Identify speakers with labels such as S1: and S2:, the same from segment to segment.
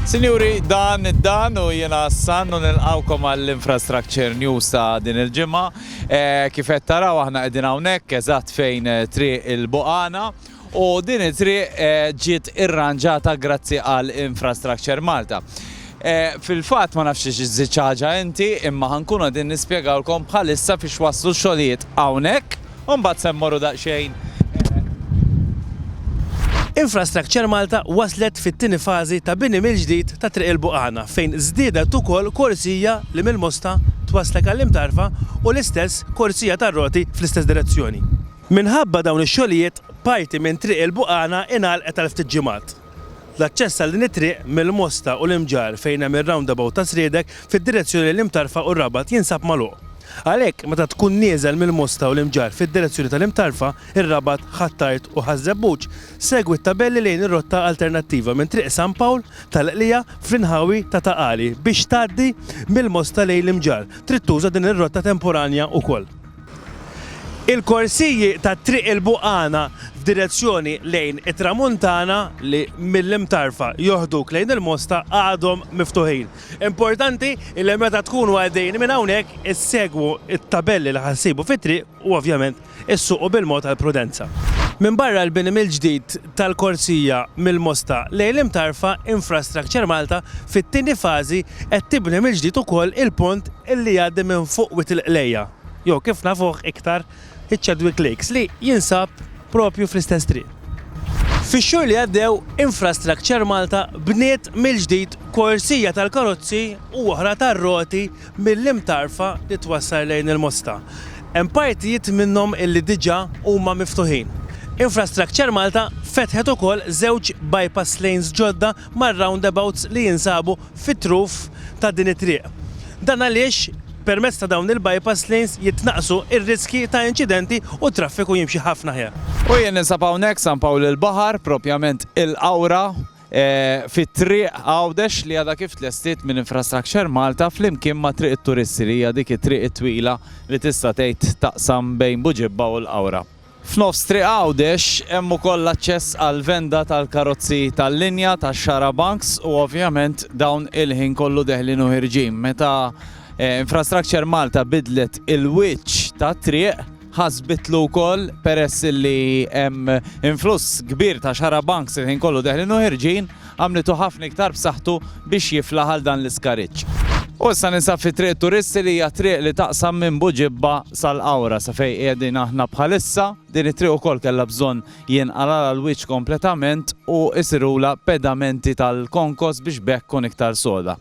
S1: Sinjuri, dan id-dan u jiena s-san u nilqawkom għall-Infrastructure News ta' din il-ġimgħa. Eh, kif qed taraw aħna qegħdin hawnhekk eżatt fejn eh, triq il-Boqana u din it-triq eh, ġiet irranġata grazzi għal Infrastructure Malta. Fil-fatt ma nafx iżżid ħaġa inti imma ħankun qegħdin nispjegawlkom bħalissa fiex waslu xogħlijiet hawnhekk U mbagħad se mmorru daqsxejn
S2: Infrastructure Malta waslet fit-tieni fażi ta' bini mill-ġdid ta' Triq il-Buqana fejn żdiedet ukoll korsija li mill-Mosta twasslek għall-Imtarfa u l-istess korsija tar-roti fl-istess direzzjoni. Minħabba dawn ix-xogħlijiet parti minn Triq il-Buqana ingħalqet għal ftit ġimgħat. L-aċċess għal din it-triq mill-Mosta u l-Imġarr fejn hemm ir-roundabout ta' Sriedek fid-direzzjoni lejn l-Imtarfa u r-Rabat jinsab magħluq. Għalhekk, meta tkun nieżel mill-Mosta u l-Imġarr fid-direzzjoni tal-Imtarfa, ir-Rabat, Ħ'Attard u Ħaż-Żebbuġ, segwi t-tabelli lejn ir-rotta alternattiva minn Triq San Pawl tal-Qlija fl-inħawi ta' Ta' Qali biex tgħaddi mill-Mosta lejn l-Imġarr. Trid tuża din ir-rotta temporanja wkoll. Il-korsiji ta' Triq il-Buqana f'direzzjoni lejn it-Tramuntana li mill-Imtarfa joħduk lejn il-Mosta għadhom miftuħin. Importanti li meta tkunu għaddejjin minn hawnhekk issegwu t-tabelli li ħa ssibu fit-triq u ovvjament issuqu bil-mod għall-prudenza. Minbarra l-bini mill-ġdid tal-korzija mill-Mosta lejn l-Imtarfa, Infrastructure Malta fit-tieni fażi qed tibni mill-ġdid ukoll il-pont li jgħaddi minn fuq Wied il-Qlejja, jew kif nafuh iktar, iċ-Chadwick Lakes, li jinsab proprju fl-istess triq. Fix-xhur li għaddew, Infrastructure Malta bniet mill-ġdid korzija tal-karozzi u oħra tar-roti mill-Imtarfa li twassal lejn il-Mosta. Hemm partijiet minnhom illi diġà huma miftuħin. Infrastructure Malta fetħet ukoll żewġ bypass lanes ġodda mar-roundabouts li jinsabu fit-truf ta' din it-triq. Dan għaliex permezz ta' dawn il-bypass lanes jitnaqqsu r-riskji ta' inċidenti u t-traffiku jimxi ħafna aħjar. U jien ninsab hawnhekk
S1: San Pawl il-Baħar, propjament il-Qawra. fit-Triq Għawdex li għadha kif tlestiet minn Infrastructure Malta flimkien ma' Triq it-Turisti li hija dik it-triq it-twila li tista' tgħid taqsam bejn Buġibba u l-Qawra. F'nofs Triq Għawdex hemm ukoll l-aċċess għall-venda tal-karozzi tal-linja tax-xarabanks u ovvjament dawn il-ħin kollu deħlin u ħirġin. Meta Infrastructure Malta biddlet il-wiċċ tat-triq, ħasbitlu wkoll peress li hemm influss kbir ta' xarabanks il-ħin kollu deħlin u ħirġin, għamlitu ħafna iktar b'saħħtu biex jiflaħ għal dan l-iskariġġ. U issa ninsab fi Triq Turisti li hija triq li taqsam minn Buġibba sal-Qawra sa fejn qiegħdin aħna bħalissa. Din it-triq ukoll kellha bżonn jinqalgħalha l-wiċċ kompletament u jsirulha pedamenti tal-konkos biex b'hekk tkun iktar soda.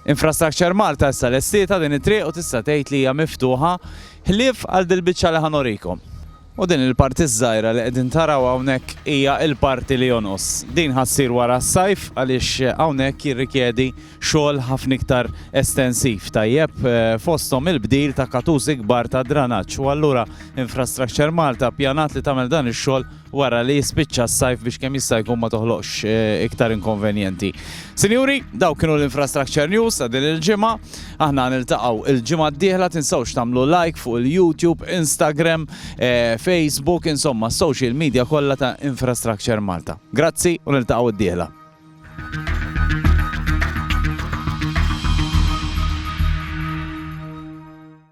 S1: Infrastructure Malta issa lestietha din it-triq u tista' tgħid li hija miftuħa ħlief għal dil-biċċa li ħa norikom. U din il-parti ż-żgħira li qegħdin taraw hawnhekk hija l-parti li jonqos. Din ħa ssir wara s-sajf għaliex hawnhekk jirrikjedi xogħol ħafna iktar estensiv, tajjeb, fosthom il-bdil ta' katużi kbar ta' dranaġġ u allura Infrastructure Malta ppjanat li tagħmel dan ix-xogħol wara li jispiċċa s-sajf biex kemm jista' jkun ma toħloqx iktar inkonvenjenti. Sinjuri, dawk kienu l-Infrastructure News ta' din il-ġimgħa. Aħna niltaqgħu il-ġimgħa d-dieħla tinsewx tagħmlu like fuq il-YouTube, Instagram, eh, Facebook, insomma s-social media kollha ta' Infrastructure Malta. Grazzi u niltaqgħu d-dieħla.